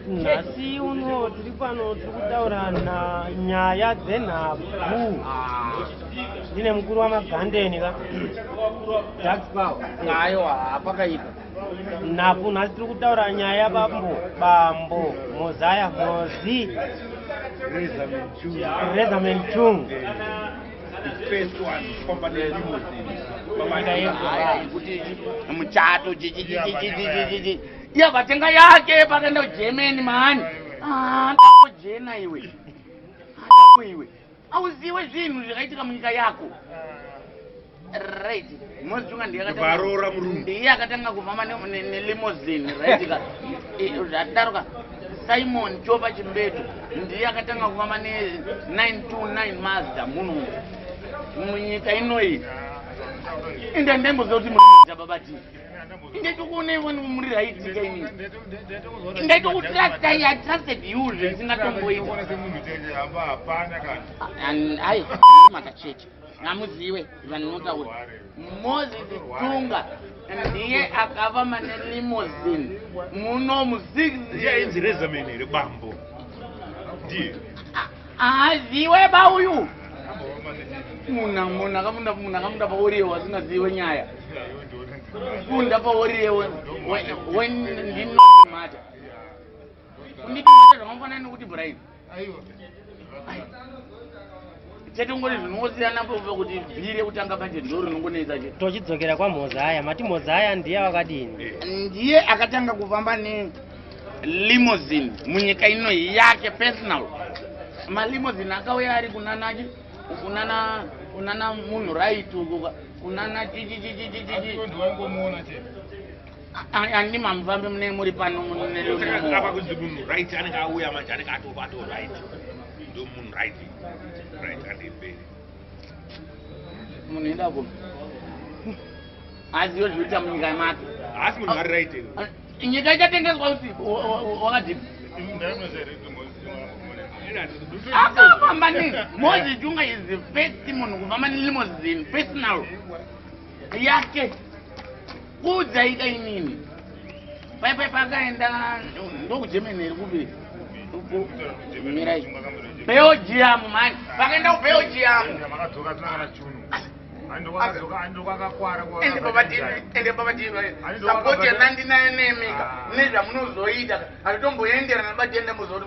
nhasi uno tiri pano tiri kutaura nyaya dzenhabvu ndine mukuru wamagandeni ka nhabvu nhasi tiri kutaura nyaya bambo bambo mozaya mozi rezamen chung muchato Iya vatenga yake pakaenda kuGermany mani. Ah, ndako jena iwe. Ndako iwe. Auziwe zvinhu zvakaitika munyika yako. Right. Mozi chunga ndiye akatanga. Varora murume. Ndiye akatanga kuvama ne, ne limousine, right ka. Eh, Zvadaro ka. Simon Chopa Chimbetu ndiye akatanga kuvama ne 929 Mazda muno. Munyika inoyi. Enda ndembo zoti murume dzababa tii. ndaitokuonai wani muri right nyika ini ndaitokutrastai i trusted you zvisingatomboita ai makacheche namuziwe vanotaura moses tunga ndiye akava mane limosin muno muziinzi rezamene rebambo ndiye Aziwe ba uyu. Muna muna kamunda muna kamunda pa wori yewa zina ziwe nyaya. Kunda pa wori yewa when ndi no mata. Kundi mata zvakamfana nokuti Brian. Aiwa. Chete ngori zvinosiyana po kuti bhire kutanga budget ndoro nongonetsa che. Tochidzokera kwa Mozaya. Mati Mozaya ndiye akadini? Ndiye akatanga kufamba ne limousine munyika ino yake personal malimousine akauya ari kunanaki kunana kunana munhu right uku kunana chichichichichichi ani mamufambi mune muri pano apa kunzi munhu right anenge auya manje anenge atovato right ndo munhu right right andemberi munhu enda ko azive zvinoita munyika yemake asi munhu ari right nyika ichatengeswa kuti wakadii akafamba ne mozisi unga is the first munhu kufamba nelimosin personal yake kuudzaika inini paipai pakaenda ndokugermany here kupi belgium mani vakaenda kubelgium nezvamunozoita hatitomboenderana batienda muzoti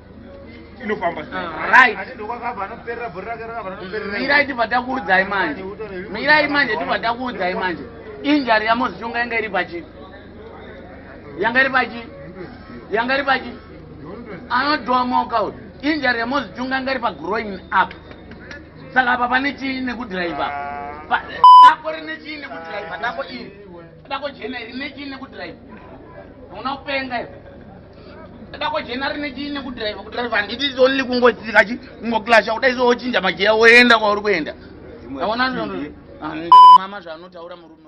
inofamba mirai tibva takuudzai manje mirai manje tibva takuudzai manje injari yamozishonga yanga iri pachi yanga iri pachi yanga iri pachi anodhomoka uyu injari yamozishonga yanga iri pagroin up saka apa pane chii nekudriva dako rine chii nekudriva dako iri dako jena iri ne chii nekudriva hauna kupenga ivo ndakojena rine chii nekudrive kudrive handiti is only kungotsika chi kungoklasha kuda iso wochinja mageya woenda kwauri kuenda aona mama zvaanotaura murume